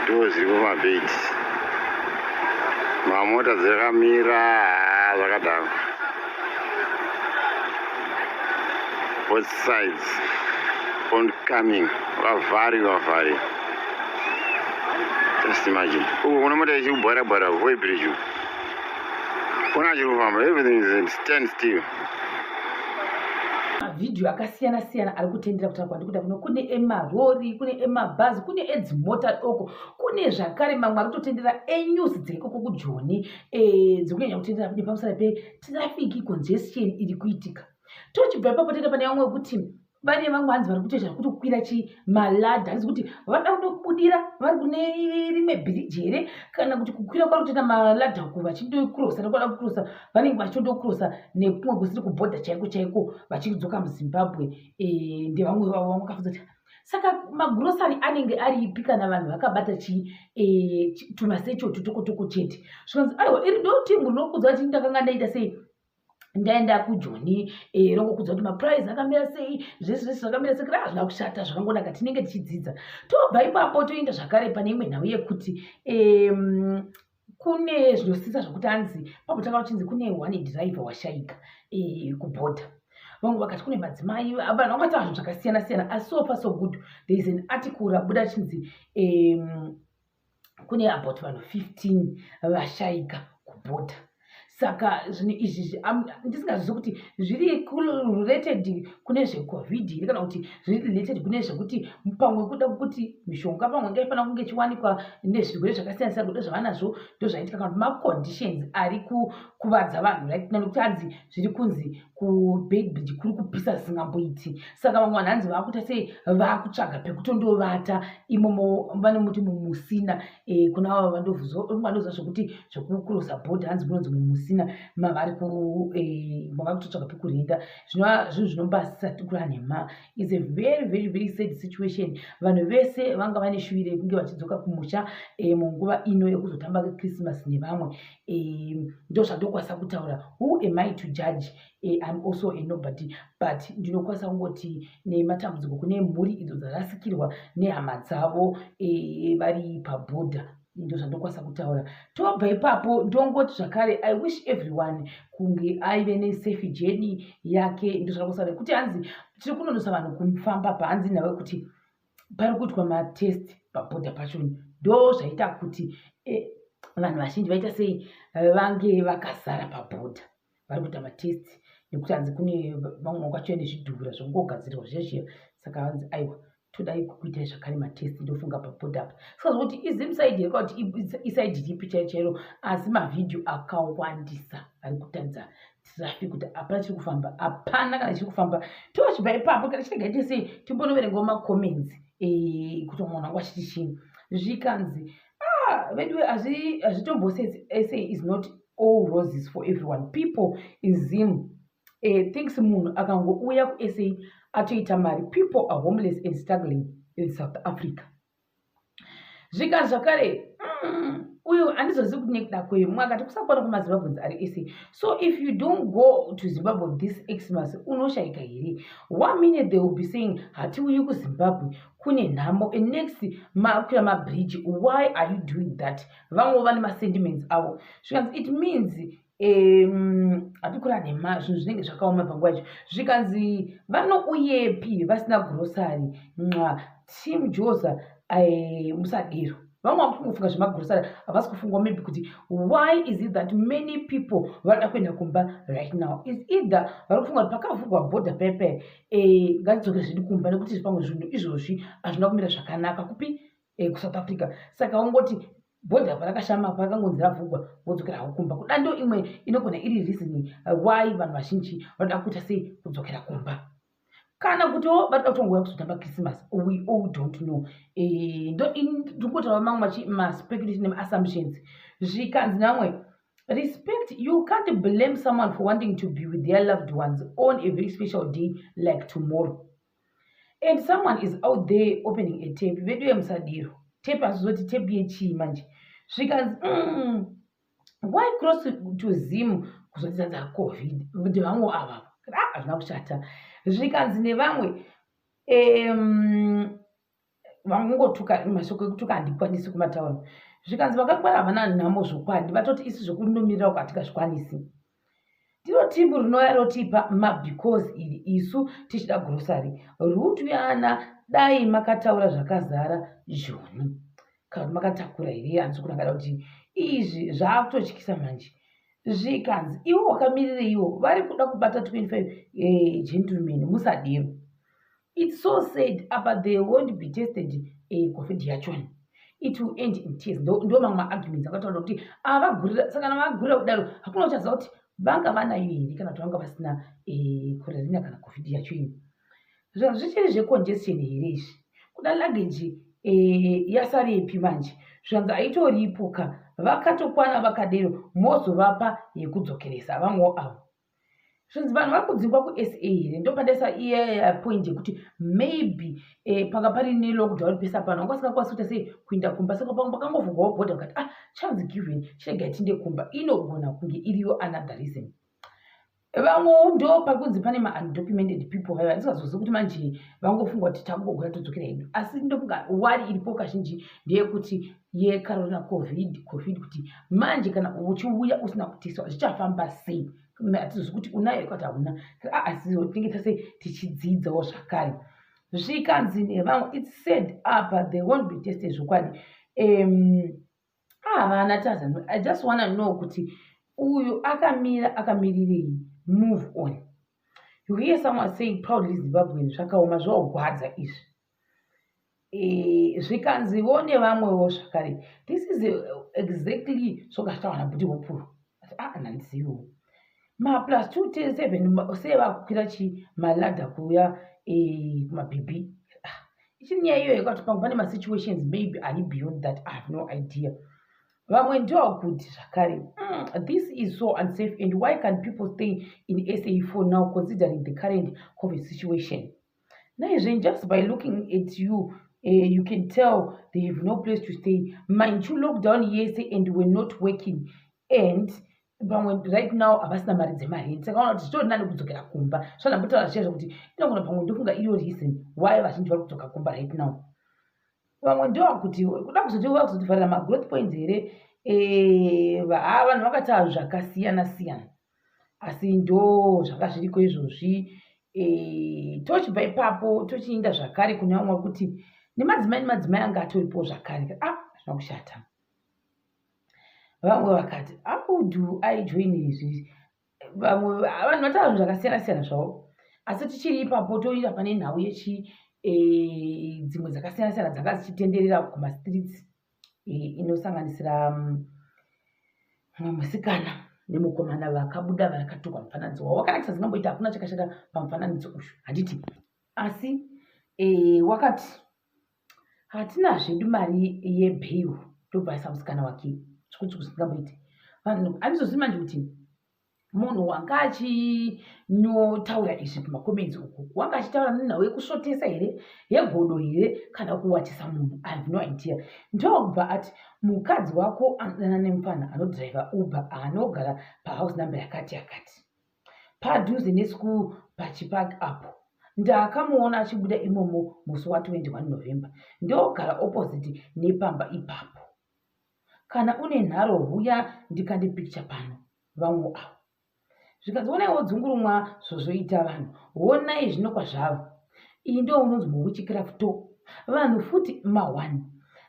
ndoo zviri pamabhedhi mamota dzakamira zvakadaro both sides oncoming vavari vavari just imagine uku kuna mota ichikubhara bhara koi bridge kuna chiri kufamba everything is stand still mavhidhiyo akasiyana siyana ari kutendera kutaura kwandikuda kuno kune emarori kune emabhazi kune edzimota doko kune zvakare mamwe ari kutotendera enyuzi dzeikoko kujoni eh, dzekunyanya kutendera kune pamusana petirafiki congestion iri kuitika tochibva ipapo tenda pane vamwe wekuti vane vamwe hanzi vari kutoita zvekuti kukwira chimaladha hanzi kuti vada kuda kubudira vari kune rimwe bhiriji here kana kuti kukwira kwari kutoita maladha uku vachindokurosa nekuda kukurosa vanenge vachindokurosa nekumwe kusiri kubhodha chaiko chaiko vachidzoka muzimbabwe eh, ndevamwe vavo vamwe kafuza kuti saka magurosari anenge aripi kana vanhu vakabata chi e, tumasecho tutokotoko chete zvikanzi aiwa iri ndoti munhu nokuudza kuti ndakanga ndaita sei ndaenda kujoni eh, rongokudza kuti maprize akamira sei zvese zvese zvakamira sei kudai hazvina kushata zvakangonaka tinenge tichidzidza tobva ipapo toenda zvakare pane imwe nhau yekuti kune zvinosisa zvekuti anzi pakutanga kuchinzi kune one driver washaika eh, kubhodha vamwe vakati kune madzimai vanhu vakaita zvinhu zvakasiyana siyana asi so far so good there is an article rabuda chinzi um, kune about vanhu 15 vashaika kubhodha saka zvinhu izvi ndisingazvizi kuti zviri related kune zvecovid here kana kuti zviri related kune zvekuti pamwe kuda kuti mishonga pamwe ngaifanira kunge ichiwanikwa nezvirwere zvakasiyana siyana kuda zvavanazvo ndozvaitika kana kuti maconditions ari kukuvadza vanhu right kana nekuti anzi zviri kunzi kubeitbridge kuri kupisa zvisingamboiti saka vamwe vanhu hanzi vakuita sei vakutsvaga pekutondovata imomo vanomuti mumusina eh, kuna vava vandovuzoandoziva zvekuti zvekukurosa bhodhi hanzi kunonzi mumusina mavari eh, mavari kutotsvaga pekurinda zvinova zvinhu zvinombaasisa tikura nhema is a very very very sad situation vanhu vese vanga vane shuviro yekunge vachidzoka kumusha eh, munguva ino yekuzotamba kechrismas nevamwe um ndo zvandokwanisa kutaura who am i to judge eh, im also a nobody but ndinokwanisa kungoti nematambudziko kune mhuri idzo dzarasikirwa nehama dzavo eh, vari pabhodha ndo zvandokwanisa kutaura tobva ipapo ndongoti zvakare i wish everyone kunge aive nesafe jeni yake ndo zvandokwanisa kuti hanzi tiri kunonosa vanhu kufamba pahanzi nawe kuti pari kuitwa matest paboda pacho ndo zvaita kuti eh, vanhu vazhinji vaita sei vange vakazara paboda vari kuita matest nekuti hanzi kune vamwe kwacho nezvidhura zvongogadzirwa zvezviya saka vanzi aiwa todai kukuitai zvakare matest ndofunga paboda apa saka zvokuti izimsaidi here kwakuti isaidi ripi chaichairo asi mavhidhiyo akawandisa ari kutadza traffic kuti hapana chiri kufamba hapana kana chiri kufamba tochibva ipapo kana chirega ite sei timbonoverengawo macomments eh, kuti munhu wangu achiti chii zvikanzi ah, veduwe hazvitombosei eh, is not all roses for everyone people in zim eh, thinks munhu akangouya kusa atoita mari people are homeless and struggling in south africa zvika zvakare mm, uyo handizozivi kuti nekuda kwei mumwe akati kusakwana kwemazimbabwens ari ese so if you don't go to zimbabwe this xmas unoshaika here one minute they will be saying hatiuyi kuzimbabwe kune nhamo and next makwira mabridge why are you doing that vamwe vane masentiments avo zvikanzi it means apikura nhema zvinhu zvinenge zvakaoma panguva yacho zvikanzi vanouyepi vasina gurosari nxa team joza musadero vamwe vamwe kungofunga zvemagurosari havasi kufungwa maybe kuti why is it that many people vanoda kuenda kumba right now is either vari kufunga kuti pakavhurwa border pepe eh, ngatidzokere zvedu kumba nekuti zvipamwe zvinhu izvozvi hazvina kumira zvakanaka kupi eh, kusouth africa saka ungoti bhodhi apa rakashama apa rakangonzi ravhugwa vodzokera havo kumba kuda ndo imwe inogona iri reason uh, why vanhu vazhinji vanoda kuita sei kudzokera kumba kana kutiwo vatoda kutongouya kuzotamba christmas we all don't know eh, ndo ndikutava mamwe machi maspeculation neassumptions zvikanzi namwe respect you can't blame someone for wanting to be with their loved ones on a very special day like tomorrow and someone is out there opening a tape veduye musadiro tape hazvizoti tape yechii manje zvikanzi mm, why cross to zim kuzodzidza dzacovid kuti vamwe ava ah, hazvina kushata zvikanzi nevamwe um, vangongotuka mashoko ekutuka handikwanisi kumataura zvikanzi vakangwara havana nhamo zvokwadi vatoti isu zvokunomirira uko hatikazvikwanisi ndiro timbu rinouya rotipa mabecause iri isu tichida grocery rutu yana dai makataura zvakazara joni kana kuti makatakura here hanzi kuti akada kuti izvi zvaakutotyisa manje zvikanzi iwo wakamirireiwo vari kuda kubata 25 eh, gentleman musadero It's so sad apa they won't be tested eh, covid yachona it will end in tears ndo mamwe maarguments akataura kuti avagurira ah, sakana vagurira kudaro hakuna uchaziva kuti vanga vanayo here kana kuti vanga vasina korerina eh, kana covid yacho ini zvichiri zvecongestion here izvi kuda luggage eh, yasarepi manje zvanzi aitoripuka vakatokwana vakadero mozovapa yekudzokeresa vamwewo avo zvinzi vanhu vari kudzingwa kusa here ndopadaisa iye point yekuti maybe eh, panga pari nelockdown pesa pano anga asingakwanisi kuita sei kuinda kumba saka pamwe pakangovhurwawo bhodha vakati ah chance given chirega tinde kumba inogona kunge iriyo another reason vamwewo ndo pari kunzi pane maundocumented people vaiva ndisingazozivi kuti manje vangofunga kuti takugogona todzokera hedu asi ndofunga wari iripo kazhinji ndeyekuti yekarona covid covid kuti manje kana uchiuya usina kuteswa zvichafamba sei hatizozi kuti unayo ikati hauna asitinenge tase tichidzidzawo zvakare zvikanzi nevamwe its said apa they won't be tested zvokwadi um, havana tazano i just wanna know kuti uyu akamira akamirirei move on you hear someone saying proudly zimbabwean zvakaoma zvaogwadza izvi Eh, zvikanzi vo nevamwewo zvakare this is exactly zvokataura nabuti hopuro aanhanziwo ah, maplus two ten seven sei vakukwira chi malada kuuya eh, kumabhibhi ah, ichiri nyaya iyoyo kwati pangu pane masituations maybe ari beyond that i have no idea vamwe ndiwo kuti zvakare mm, this is so unsafe and why can people stay in sa for now considering the current covid situation naizve just by looking at you uh, you can tell they have no place to stay mind you lockdown yese and were not working and pamwe right now havasina mari dzemarenti saka vana kuti zvitori nani kudzokera kumba svanambotaura zviya zvekuti inogona pamwe ndofunga iyo reason why vazhinji vari kudzoka kumba right now vamwe ndoa kuti kuda kuzoti uva kuzotivharira magrowth points here eh, haa vanhu vakataura zvakasiyana siyana asi ndo zvanga zviriko izvozvi e, tochibva ipapo tochiinda zvakare kune vamwe kuti nemadzimai nemadzimai anga atoripo zvakare ah zvina kushata vamwe vakati akudu aijoin izvi vamwe vanhu vataura zvinhu zvakasiyana siyana zvavo asi tichiri ipapo toinda pane nhau yechi e, dzimwe dzakasiyana siyana dzanga dzichitenderera kumastreets inosanganisira mm, mumwe musikana nemukomana vakabuda vakatukwa mufananidzo wavo wakanakisa dzingamboita hakuna chakashata pamufananidzo uyu handiti asi e, wakati hatina zvedu mari yebheyu tobvaisa musikana wake zvikuti kusingamboiti vanhu andizozii manje kuti munhu wanga achinyotaura izvi pamacomments uku wanga achitaura nenhau yekusvotesa here yegodo here kana kuwachisa munhu i have no idea ndokubva ati mukadzi wako anodana nemupfanha anodriver uber anogara pahouse number yakati yakati padhuze neschool pachipark apo ndakamuona achibuda imomo musi wa 21 november ndogara opposite nepamba ipapo kana une nharo huya ndikande picture pano vamwe avo zvikanzionai wodzungurumwa zvozoita vanhu honai zvino kwazvavo iyi ndo unonzi mowuchikirafto vanhu futi mawani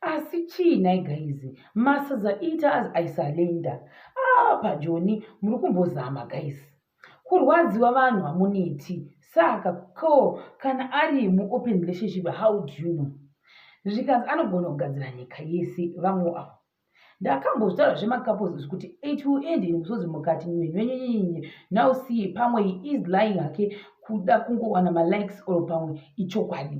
asi chii nhai gaizi masaza ita as aisalenda aa ah, pajoni muri kumbozama gaizi kurwadziwa vanhu hamuneti saka ko kana ari muopen relationship how do you know zvikanzi anogona kugadzira nyika yese vamwe avo ndakambozvitaura zvemakapos zvekuti it will end in musodzi mukati nyenyenyenyenye now see pamwe he is lying hake kuda kungowana malikes or pamwe ichokwadi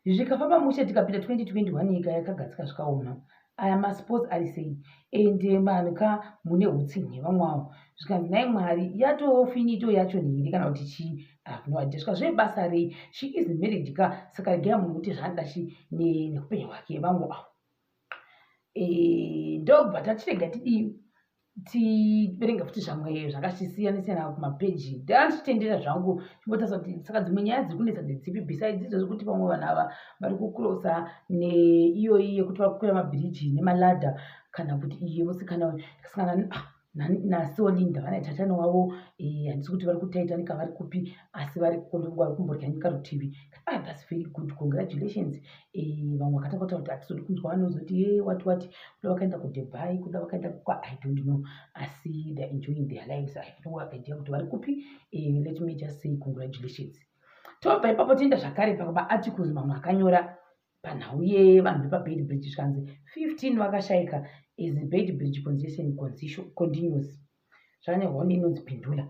zvikafamba mushe tikapinda 2021 nyika yakagadzika zvikaoma aya masports ari sei and eh, vanhu ka mune utsinhi vamwawo zvikanzi nai mwari yatofinito yacho nhiri kana kuti chii avnoadeswa zve basa rei she is married ka saka regai munhu kuti zvanoda chi neupenyu hwake vangu avo eh, ndobva tachirega tidii tiverenge futi zvamwe zvakachisiyanisiyana kumapeji ndanga ndichitendera zvangu chimbotarisa kuti saka dzimwe nyaya dziri kunetsa ndedzipi besides idzo zvekuti vamwe vanhu ava vari kukurosa neiyoyi yekuti vari kukwira mabhiriji nemaladha kana kuti iye musikana ndikasangana ah, nasiwo linda vanaitaitani wavo eh, handisi kuti vari kutaitanika vari kupi asi vari kumbodya nyika rutivi ah, thats very good congratulations eh, vamwe vakatanga kutaura kuti hatizodi kunzwa vanozoti ye eh, wati wati kuda vakaenda kudubai kuda vakaenda kukwa i don't know asi they're enjoying their lives i have no idea kuti vari kupi eh, let me just say congratulations tobva ipapo tienda zvakare pamaarticles mamwe akanyora panhau yevanhu vepabed bridge zvikanzi 15 vakashaika is bed bridge congestion continues zvane honi inonzi pindula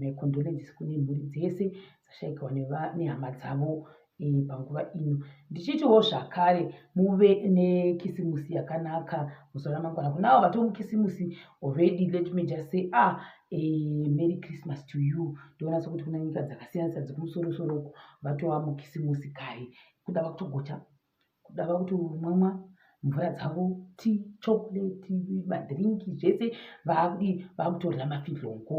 my condolences kune mhuri dzese dzashaikirwa nehama dzavo panguva ino ndichiitiwo zvakare muve nekisimusi yakanaka muzuva ramangwana kunavo vato mukisimusi already let me just say ah eh, merry christmas to you ndoona sokuti kuna nyika dzakasiyana siyana dzekumusoro soro uku vatova mukisimusi kare kuda vakutogocha kuda vakuti umwamwa mvura dzavo ti chocolate madrinki zvese vakuti vakutorira mafidlongo